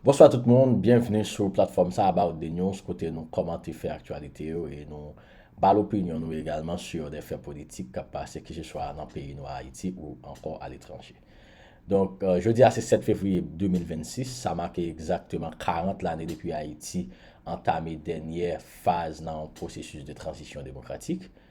Bonswa tout moun, byenvni sou platfòm sa About The News kote nou kòmante fè aktyalite yo e nou ba l opinyon nou egalman sur de fè politik k ap pase keseswa nan peyi nou Ayiti ou ankò aletranje. Donk, jodi a se 7 fevriye 2026, sa make egzakteman 40 lane depi Ayiti antame dènyè faz nan yon pwosesis de tranzisyon demokratik.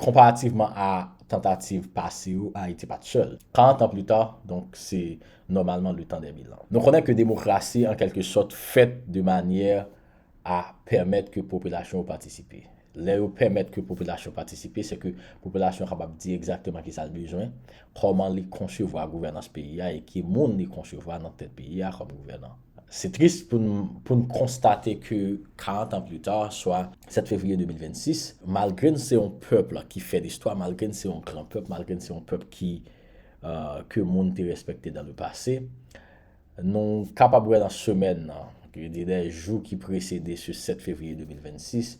Konparativman a tantativ pase yo, Ayiti pa t sèl. 40 ans plus tard, donk se nòmalman le temps des bilans. Nou konnen ke demokrasi an kèlke sòt fèt de manyè a pèmèt ke popilasyon yo patisipe. Lè yo pèmèt ke popilasyon patisipe, se ke popilasyon kapab di egzakteman ki sa l bezwen, kòman li konsevwa gouvènans peyi a e ki moun li konsevwa nan tèt peyi a kòm gouvènan. Se tris pou n pou n konstate ke 40 ans plus tard, swa 7 fevriye 2026, malgre n se yon pèp ki fè listwa, malgre n se yon gran pèp, malgre n se yon pèp ki ke moun te respekte dans le passé, nou kapab wè nan semèn nan, je veux dire les jours qui précédaient ce 7 février 2026,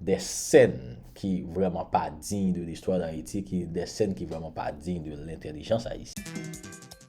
des scènes ki vrèman pa digne de l'histoire d'Haïti, des scènes ki vrèman pa digne de l'intelligence haïtienne.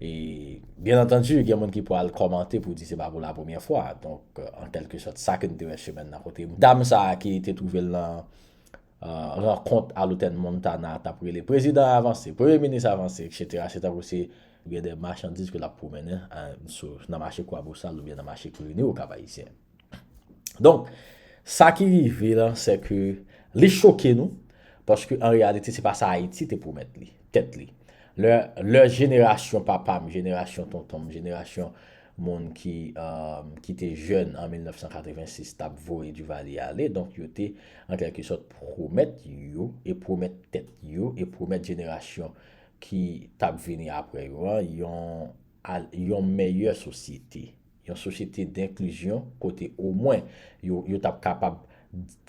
E byen antandu gen moun ki pwal kòmante pou di se pa pou la premyè fwa, donk an kèlke sòt sa ke n te wè semèn nan kote dam sa a ki te twouve l nan rankont a lotèn Montana t ap rele prezidan an avanse, premye minis avanse eksetera se tankou se gen de machandiz ke l ap pwomennen nan mache Kwabosal oubyen nan mache Krini o Kap Ayisyen. Donk, sa ki rive la, se ke li choke nou, paske an reyalite se pa sa Ayiti te pwomèt li, tèt li. Lè jenerasyon papa m, jenerasyon tonton m, jenerasyon moun ki te jèn an 1986 t ap voye Duvalier ale, donk yo te an kèlke sòt pwomèt yo, e pwomèt tèt yo, e pwomèt jenerasyon ki t ap vini apre yo an, yon meyè sosyete. Yon sosyete denklizyon kote omwen yo t ap kapab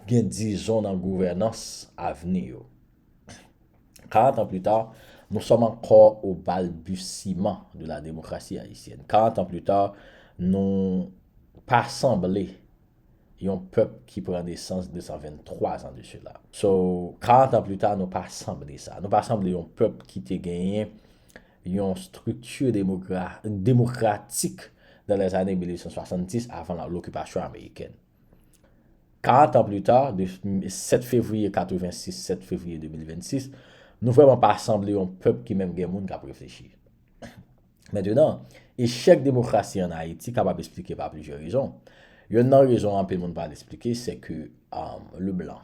gen dizon nan gouvènans avni yo. Karant an plita, nou sòm ankò o balbutiman de la demokrasi ayisyèn. Karant an plita, nou pa sanble yon pèp ki pran nesans 223 zan de sela. So, karant an plita, nou pa sanble sa. Nou pa sanble yon pèp ki te genyen yon strikti demokratik nan lèzane 1870 avan lokipasyon amerikèn. Karant an plita, de 7 fevriye 86, 7 fevriye 2026, nou vrèman pa sanble yon pèp ki menm gen moun k ap reflechi. Mentenan, echèk demokrasi an Ayiti kapab esplike pa plizyè rezon. Yonn nan rezon anpil moun pa al esplike, sèke Leblan.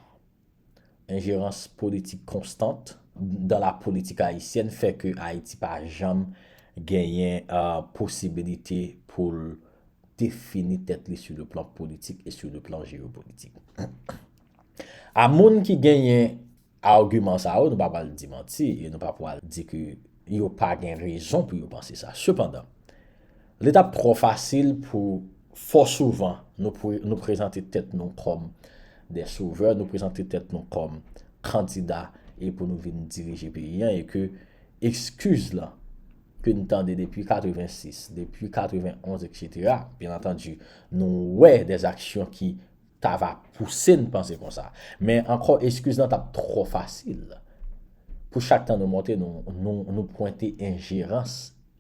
Enjerans politik konstant dan la politik ayisyèn fè ke Ayiti pa janm genyen posibilite pou l defini tèt li sou le plan politik e sou le plan jeyopolitik. A moun ki genyen agiman sa yo, nou pa pral di manti e nou pa pral di ke yo pa gen rezon pou yo panse sa. Sepandan. Li t ap twò fasil pou fò souvan nou prezante tèt nou kòm de sovè, nou prezante tèt nou kòm kandida e pou nou vin dirije peyi an e ke ekskiz lan ke n tande depi 86, depi 91 eksetera, byen antandi nou wè de zaksyon ki ta va pouse n panse konsa. Men ankò eskiz lan t ap twò fasil. Pou chak tan nou monte nou pwente enjerans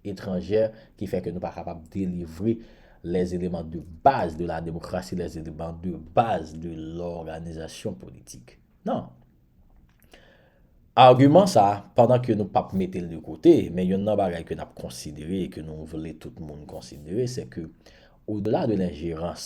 etranjè ki fè ke nou pa kapab delivre les éléments de base de la démocratie, les éléments de base de l'organisation politique. Non. Agiman sa, pandan ke nou p ap mete l de kote, men youn nan bagay ke n ap konsidere e ke nou vle tout moun konsidere se ke odela de lenjerans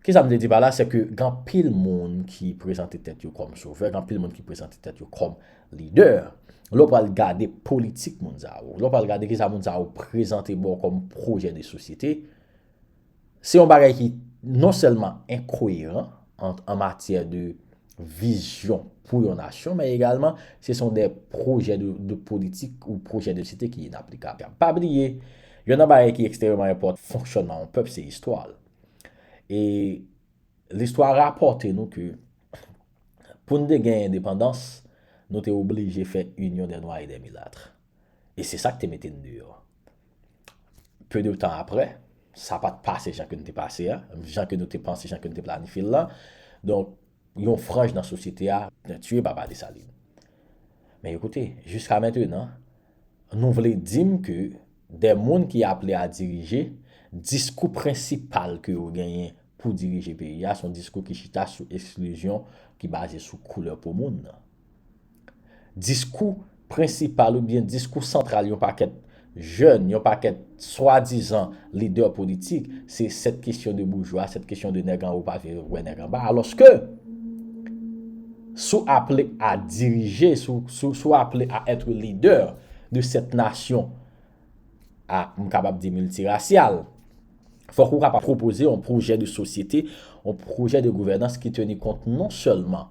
Ki sa m vle di pa la, se ke gen anpil moun ki prezante tèt yo kòm sovè, gen anpil moun ki prezante tèt yo kòm lidè. Lè w pral gade politik moun sa yo, lè w pral gade ki sa moun sa yo prezante ba w kòm pwojè de sosyete, se yon bagay ki non sèlman enkoyeran an matyè de vizyon pou yon nasyon, men egalman se son de projè de politik ou projè de site ki inaplikab. Pa bliye, yon nan bagay ki ekstreman enpòt fonksyonman yon pèp se istwa l. E listwa rapòte nou ke pou n te gen endepandans, nou te oblije fè inyon de nwa e de milatre. E se sa k te mete n deyò. Peu de tan apre, sa pa t pase jan ke n te pase a, jan ke nou te panse, jan ke n te planifye l lan. Donk, yon franj nan sosyete a tiye papa Desalin. Men ekoute, jiska mentenan, nou vle di m ke de moun ki aple a dirije, diskou prensipal ke yo genyen pou dirije peyi a, se yon diskou ki chita sou esklizyon ki baze sou koulè po moun nan. Diskou prensipal oubyen diskou santral yon pakèt jèn, yon pakèt swadizan lidè politik, se cette question de bourgeois, cette question de nèg anwo pa vire wè nèg anba. Alòske, si w aple a dirije, si w aple a être leader de cette nation a, m kapab di miltirasyal, fòk ou kapab pwopoze yon pwojè de sosyete, yon pwojè de gouvènans ki teni kont non sèlman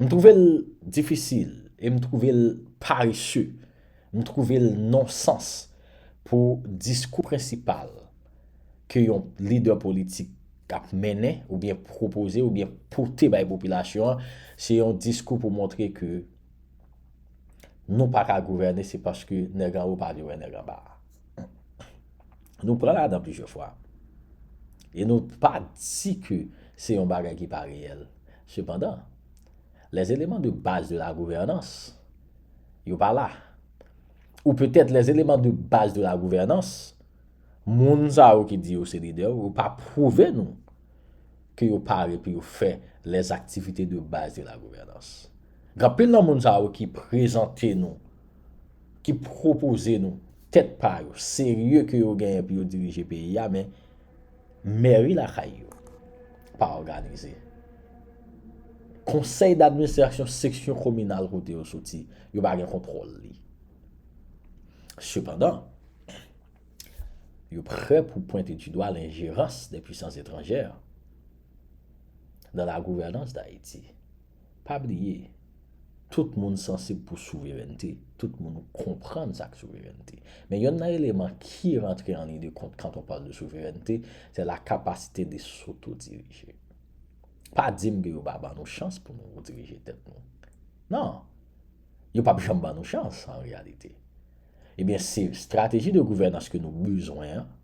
M twouve l difisil e m twouve l parese, m twouve l nonsans pou diskou prensipal ke yon lidè politik ap mennen oubyen pwopoze oubyen pote bay popilasyon an, se yon diskou pou montre ke nou pa ka gouvène se paske nèg anwo pa vle wè nèg anba. Nou pran ladan plizyè fwa e nou pa di ke se yon bagay ki pa reyèl. Sepandan, les éléments de base de la gouvernance yo pa la. Ou petèt les éléments de base de la gouvernance, moun sa yo ki di yo se lidè yo, yo pa pwouve nou ke yo pare pou yo fè les activités de base de la gouvernance. Gen anpil nan moun sa yo ki prezante nou, ki pwopoze nou tèt pa yo, serye ke yo genyen pou yo dirije peyi a men Mèri lakay yo pa òganize. Konsèy d'administrasyon seksyon kominal kote yo soti, yo pa gen kontwòl li. Sepandan, yo prè pou pwente di dwa lenjerans de pwisans etranjè nan la gouvènans d'Ayiti. Pa bliye, tout moun sansib pou souverènte, tout moun konprann sa k souverènte. Men yonn nan eleman ki rantre an liy de kont kant on pale de souverènte, sè la kapasite de sotodirije. Pa di m ke yo pa ban nou chans pou nou dirije tèt nou. Non! Yo pap janm ban nou chans an reyalite. Ebyen se strateji de gouvènans ke nou bezwen an,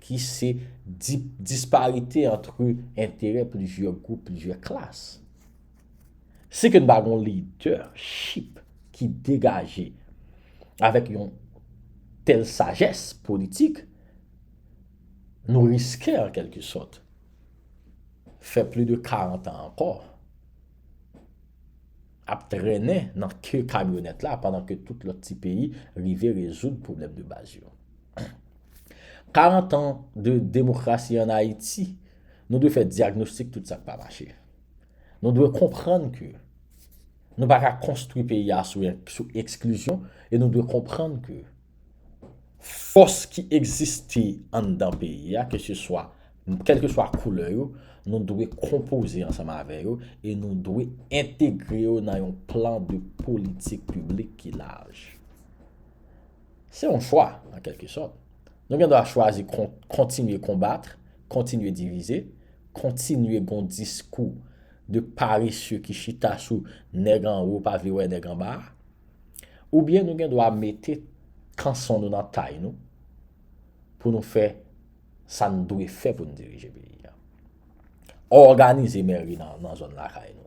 ki se di disparite antre enterè plizyè gwoup, plizyè klas. Si ke n pa gen yon lidèchip ki degaje avèk yon tèl sajès politik, nou riske an kèlke sòt fè pli de 40 an ankò ap trennen nan ke kamyonèt la pandan ke tout lòt ti peyi rive rezoud pwoblèm de baz yo. 40 ans de demokrasi an Ayiti, nou dwe fè dyagnostik tout sa k pa mache. Nou dwe konprann ke nou pa ka konstwi peyi a sou eksklizyon e nou dwe konprann ke fòs ki egziste anndan peyi a ke se swa, kèlke swa koulè yo, nou dwe konpoze ansanm avè yo e nou dwe entegre yo nan yon plan de politik piblik ki laj. Se yon chwa, an kèlke sòt. Nou gen dwa chwazi kontinye konbat, kontinye divize, kontinye gen yon diskou de paresye ki chita sou nèg anwo pa vle wè nèg anba a, oubyen nou gen dwa mete kanson nou nan tay nou pou nou fè sa n dwe fè pou n dirije peyi a. Òganize mèri nan zòn lakay nou.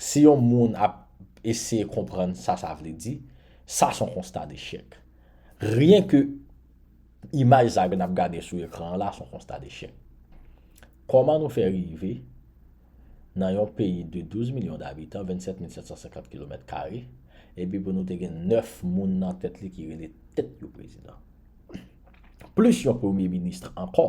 Si yon moun ap eseye konprann sa sa vle di, sa son konsta dechèk. Ryen ke imaj sa ke nap gade sou ekran an la son konsta dechèk. Kòman nou fè rive nan yon peyi de 12 milyon dabitan, 27 mil 750 kilomèt kare, epi pou nou te gen 9 moun nan tèt li ki rele tèt yo prezidan. Plis yon premye ministre ankò.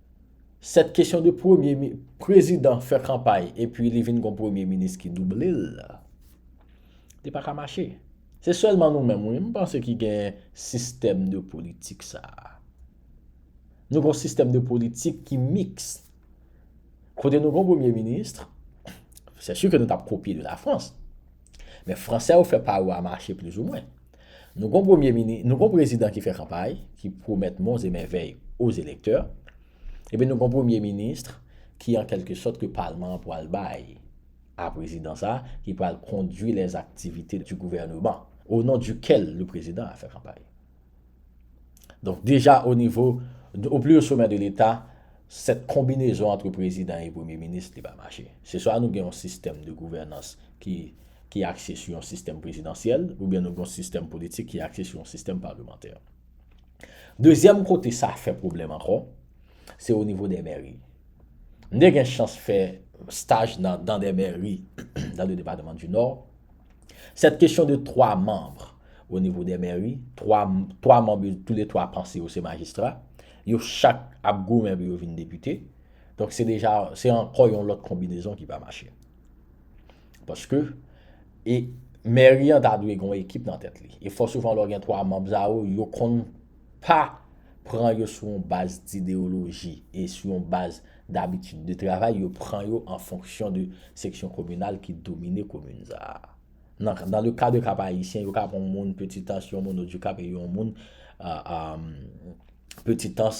Cette question de premye mi, prezidan fè kanpay epi li vin gon premye minis ki double l, li pa ka mache. Se sèlman nou menm wi m panse ki gen sistèm de politik sa a. Nou gon sistèm de politik ki miks. Kote nou gon premye minis, sè si ke nou t ap kopye de la Frans. Men fransè yo fè pa yo a mache plizoumwen. Nou gon premye mini, nou gon prezidan ki fè kanpay, ki pwomèt mons e mèvèy o zelektè, epi nou gon premye minisr ki an kèlke sòt ke palman an pwal bay a prezidan sa a ki pwal kondwi lè zaktivite di gouvèneman o non di kèl le prezidan a fè kanpay. Donk deja o nivo, o pli o somè de leta, sèt konbinezon antre prezidan e premye minis li pa mache. Se swa nou gen yon sistèm de gouvènans ki. ki akse sou yon sistèm prezidansyèl oubyen nou gen yon sistèm politik ki akse sou yon sistèm palemantè. Dezyèm kote sa fè pwoblèm ankò, se onivo dè mèri. M te gen chans fè staj nan dan dè mèri nan de depatman di Nò. Sèt kesyon de twa manm onivo dè mèri, twa twa manm yo tou le twa panse yo se majistra, yo chak ap goumen pou yo vin depite. Donk se deja se ankò yon lòt konbinezon ki pa mache. Paske, e mèri an ta dwe gen yon ekip nan tèt li. E fò souvan lè w gen 3 manb sa yo, yo konn pa pran yo sou yon baz dideyoloji e sou yon baz dabitid de travay, yo pran yo an fonksyon de seksyon kominal ki domine komin sa a. Nan le ka de Kap Ayisyen, yo ka pran yon moun Petitans, yon moun Odikap e yon moun Petitans.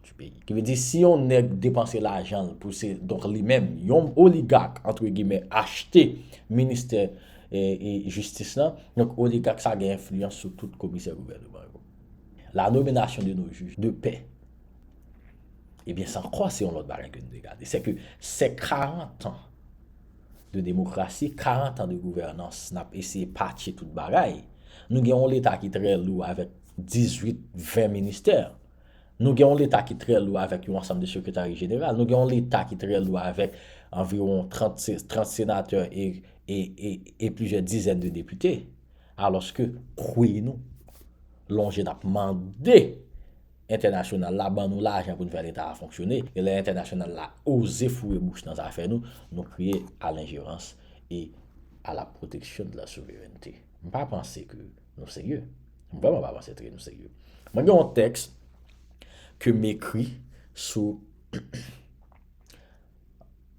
du peyi. Ki vle di si yon nèg depanse lajan l pou se donk li menm yon oligak antre gimè achte ministè jistis lan, donk oligak sa gen enfliyans sou tout komisè gouvèneman yo. La nomination de nos juges de paix ebyen sa ankò se yon lòt bagay ke nou dwe gade. Sè ke sè 40 ans de demokrasi, 40 ans de gouvènans n ap eseye patche tout bagay, nou gen yon leta ki trè lou avèk 18, 20 ministè. Nou gen yon leta ki trè lou avèk yon ansanm de sekretari jeneral. Nou gen yon leta ki trè lou avèk anviwon 30 senatè e plizyè dizèn de depite. Alòske kwi nou lonje n ap mande entènasyonal la ban nou lajan pou n fè leta a fonksyone. E lè entènasyonal la oze foure bouch nan zafè nou, nou kriye a lenjerans e a la pwoteksyon de la souverènte. M pa panse ke. Nou serye? M vreman pa panse tre nou serye. Mwen gen yon teks ke m ekri sou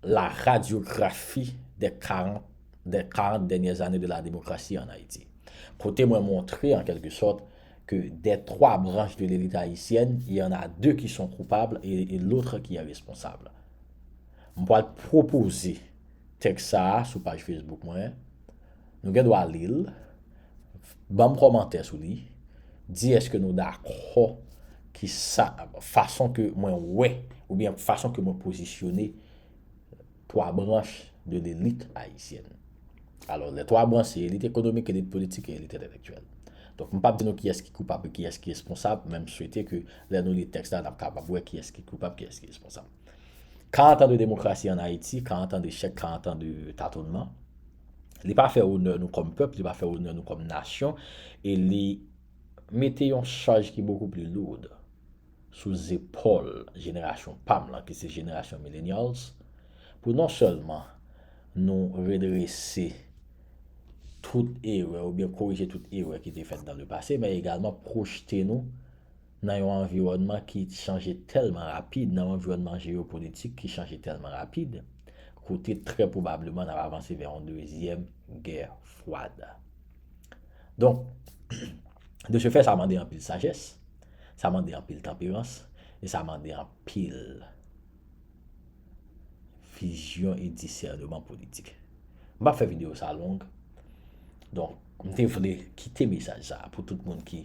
la radiografi de 40 de 40 dènyè zane de la demokrasi an Ayiti. Kote mwen montre an kelke sòt ke de 3 branch de lelit ayisyèn, il y en a 2 ki son koupabl e lotre ki eresponsabl. M pwal pwopoze teks sa a sou paj Facebook mwen Nou gen dwa li l, ban m kòmantè sou li, di èske nou dakò ki sa, fason ke mwen wè oubyen fason ke mwen pozisyone twa branch de lelit ayisyèn. Alò, lè twa branch se elit ekonomik, elit politik e elit entelektyèl. Donk, m p ap di nou kiyès ki koupab e kiyès ki responsab, men m swete ke lè nou li tèks la, n ap kapab wè kiyès ki koupab, kiyès ki responsab. 40 ans de démocratie en Haïti, 40 ans de chèk, 40 ans de tatonman. Li pa fè onè nou kòm pèp, li pa fè onè nou kòm nasyon e li mete yon chaj ki bokou pli lourd sou zepòl jenerasyon pa m lan ki se jenerasyon Millenials pou non sèlman nou redrese tout erè oubyen korije tout erè ki te fèt dan le pase men egalman pwojte nou nan yon anviwònman ki chanje tèlman rapid, nan yon anviwònman jeyopolitik ki chanje tèlman rapid, kote trè pwobableman n ap avanse vè yon dezyèm gè fwad. Donk, de se fè, sa mande anpil sajès, sa mande anpil tanperans e sa mande anpil. Vizyon e disèneman politik. M pa fè videyo sa long. Donk, m te vle kite mesaj sa pou tout moun ki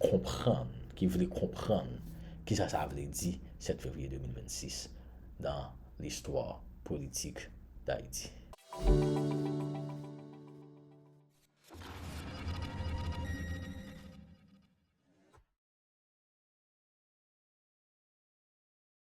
konprann, ki vle konprann ki sa sa vle di 7 fevriye 2026 nan listwa politik Dayiti.